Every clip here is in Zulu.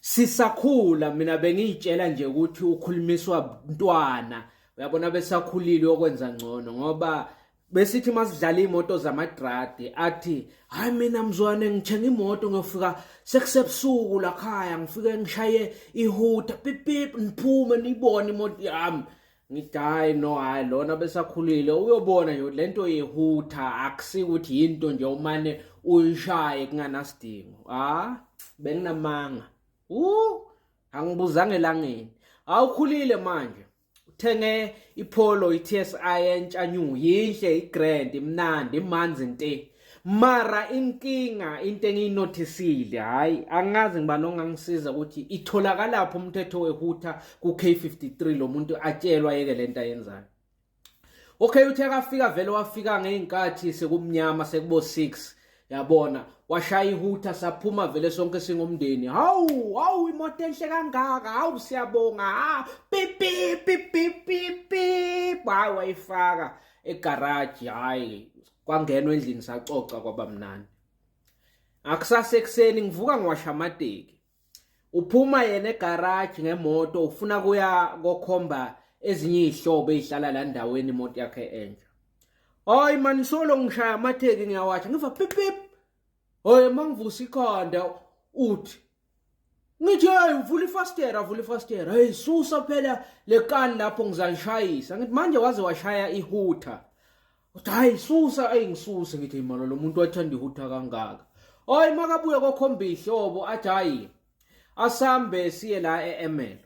Sisakhula mina bengiyitshela nje ukuthi ukhulumiswa ntwana uyabona besakhulile okwenza ngcono ngoba besithi masidlala imoto zamadradi athi hayi mina mzwane ngithenga imoto ngiyofika sekusebusuku lakhaya ngifike ngishaye ihuta pipip niphume nibone imoto yami ngithi hayi no hayi lona besakhulile uyobona nje le nto yehutha akusikuthi yinto nje umane uyishaye kunganasidingo ah benginamanga u angibuzange langeni awukhulile manje uthenge ipholo i-TSI entsha new yinhle i-grand imnandi imanzi nte mara inkinga into engiyinothisile hhayi angazi ngiba nongangisiza ukuthi itholakalaphi umthetho wehutha ku-k53 lo muntu atshelwa yeke le nto ayenzayo okay uthe akafika vele wafika ngey'nkathi sekumnyama sekubo-six yabona washaya ihutha saphuma vele sonke singumndeni hawu hawu imoto enhle kangaka hawu siyabonga ha pipipipipipi hayi wayifaka egaraji hhayi kwangenwa endlini sacoca kwabamnandi akusasa ekuseni ngivuka ngiwasha amateki uphuma yena egaraji ngemoto ufuna kuya kokhomba ezinye izihlobo ezihlala la ndaweni imoto yakhe entsha hayi mani solo ngishaya amatheki ngiyawasha ngiva pip pip hoye mangivusa ikhanda uthi ngithi hayi uvula ifastera avula ifastera hey susa phela lekani lapho ngizalishayisa ngithi manje waze washaya ihutha uthi hayi susa ayi ngisuse ngithi imalo lo muntu wathanda ihutha kangaka oyi makabuye kokhomba ihlobo athi hayi asambe siye la e-emelo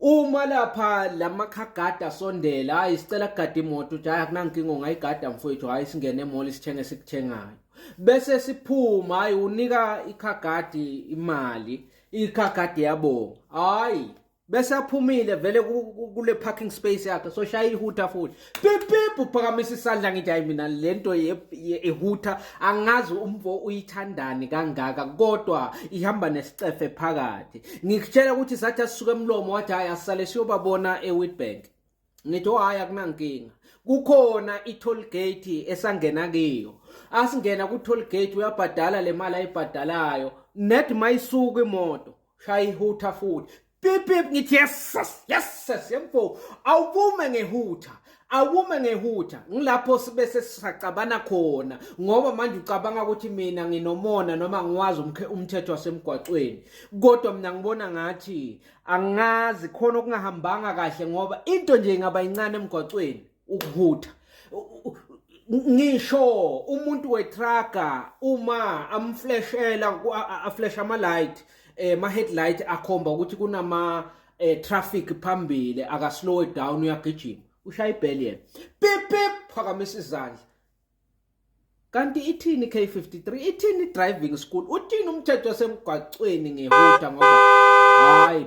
Uma lapha lamakhagada sondela hayi sicela kugada imoto uthi hayi akunankinga ungayigada mfowethu hayi singene emoli sithenge sikuthengayo bese siphuma hayi unika ikhagadi imali ikhagadi yabonga hayi bese aphumile vele kule parking space yakhe so shaya ihutha futhi pipip uphakamisa isandla ngithi hayi mina le nto ehutha angazi umfo uyithandani kangaka kodwa ihamba nesicefe phakathi ngikutshela ukuthi sathi asisuke emlomo wathi hayi asale siyobabona ewitbank ngithi oh, hhayi akunankinga kukhona i-toll gate esangena kiyo asingena ku-toll gate uyabhadala le mali ayibhadalayo net mayisuka imoto shaya ihutha futhi pip pip ngithi yeses yeses yemfo awubume ngehutha awume ngehutha ngilapho sibe sesisacabana khona ngoba manje ucabanga ukuthi mina nginomona noma ngiwazi umthetho wasemgwaqweni kodwa mina ngibona ngathi angazi khona okungahambanga kahle ngoba into nje ingaba incane emgwaqweni ukuhutha ngisho umuntu wetraga uma amfleshela aflesha ama light eh ma headlight akhomba ukuthi kunama eh, traffic phambili aka slow it down uyagijima ushaya ibheli yena pip pip phakamisa izandla kanti ithini K53 ithini driving school uthini umthetho wasemgwaqweni ngehuda ngoba hayi